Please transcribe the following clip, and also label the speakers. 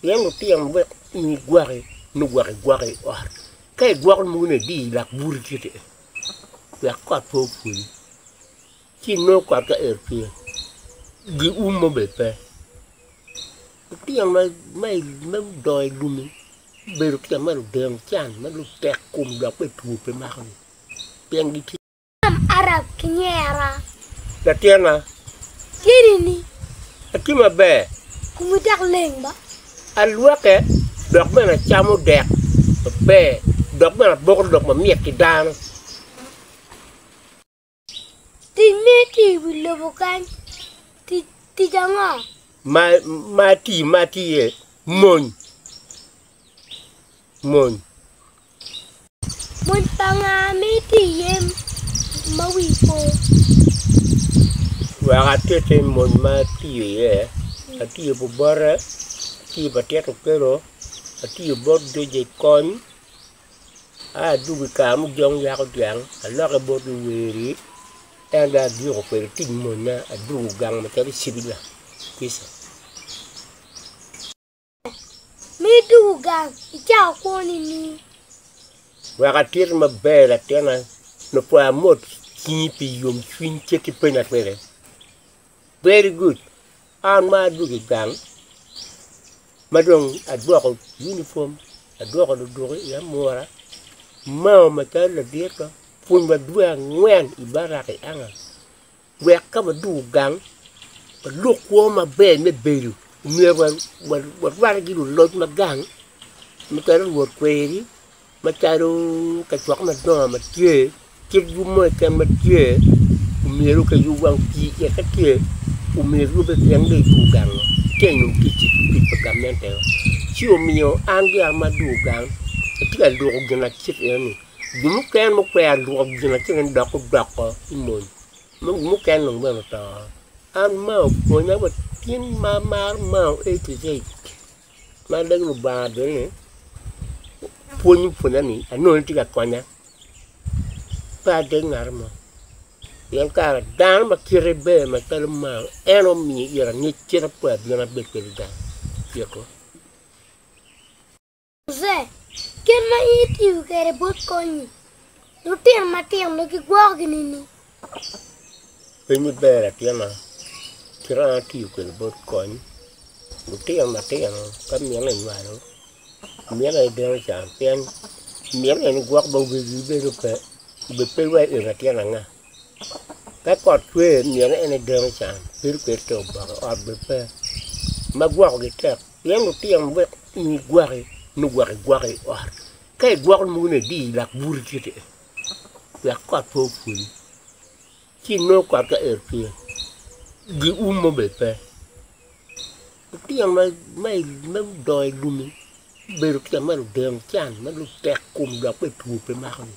Speaker 1: Pien lutino wek omi gwaki me gwok i gwok i ot, ka i gwoko mogo ni adi lak buri tye tenge, wek kot pe opwonyi, ci nongo kot ka ero tye, giumo bene pe. Lutino ma ma ma gudongo i lumi gubedo lutino ma ludeno can ma lutek kom dok bene two pe makogi pien gitye. Atam Arab
Speaker 2: ki nyera. Latyena.
Speaker 1: Tyeni
Speaker 2: ni. Atye maber.
Speaker 1: Komi dok leng
Speaker 2: ba. Alwake
Speaker 1: dok bene acamo dek maber dok bene aboko lok mamyek ki dano.
Speaker 2: Tic me tye i wi lobo kany tic ango? Ma
Speaker 1: ati ma atye iye mony. mony. Mony pa
Speaker 2: nga ma itye iye ma wii po?
Speaker 1: Wek atite i mony ma atiyo iye, atiyo pi bote, atiyo pa tito keno, atiyo bot jojje kony, a adwogo i kare mujong yako dyang alokke bot luweri en dong adyeko kwede tic mony ma adwogo gang macalo civilian officer.
Speaker 2: Mi dwogo gang icako kwo nini? Wek
Speaker 1: atit maber latina, nongo pe amot cingi pi yomcwiny cit ipenya kwede. Very good. An ma adwogo i gang ma dong adwoko unifom, adwoko luduki i amura, mao macalo ladito, pwony wadwe angwen i barak i anga. Wek ka wadwogo gang, waluk kwo maber me bedo, omyero warwate ki luloc ma gang macalo rwod kweri, macalo kacwak madongo ma tye, kit yub mo keken ma tye, omyero ka yub wang pii iye ka tye, omyero lubbe ki en dong idwogo gang-ngu ci inong ticci ki tic pa gamente-o. Ci omiyo an dong amadwogo gang, atye ka loko gin acel eno-ni. Jo mukene mukwero lwoko gin acel-li ni dok gudoko ki mony, ma jo mukene dong bene oto. An mao opwonya wa gin ma amaro mao A to Z, ma leb Lubanga bene pwonyo pwonya-ni anongo tye ka konya, pe ager ngat mo. Pien kara dano ma kite ber macalo mao en aye omiyo ira ngec kit akwede abino abedo kwede i gang cik-ku.
Speaker 2: Jose, Kit ma in itiyo kwede bot konyi lutino matino gigwokogi nining?
Speaker 1: Penyo ber latinna, kit ma an atiyo kwede bot kony lutino matino ka mine onywalo mine bino can pien mine ni gwok ma wigi bedo pe be pe wa i ot latin anga ka kot cwer mine en ni dino can bedo kwede te oboke ot be pe ma gwokogi tek. Pien wutino wek wungi gwaki me gwok i gwok i ot, ka i gwoko mogo ni adi lak bute tye tyen, wek kot pe opwonyi, ci nongo kot ka ero tye, giummo bene pe. Lutino ma ma ma gudongo i lum-mi, gubedo lutino ma ludeno can, ma lutek kom dok bene two pe makogi.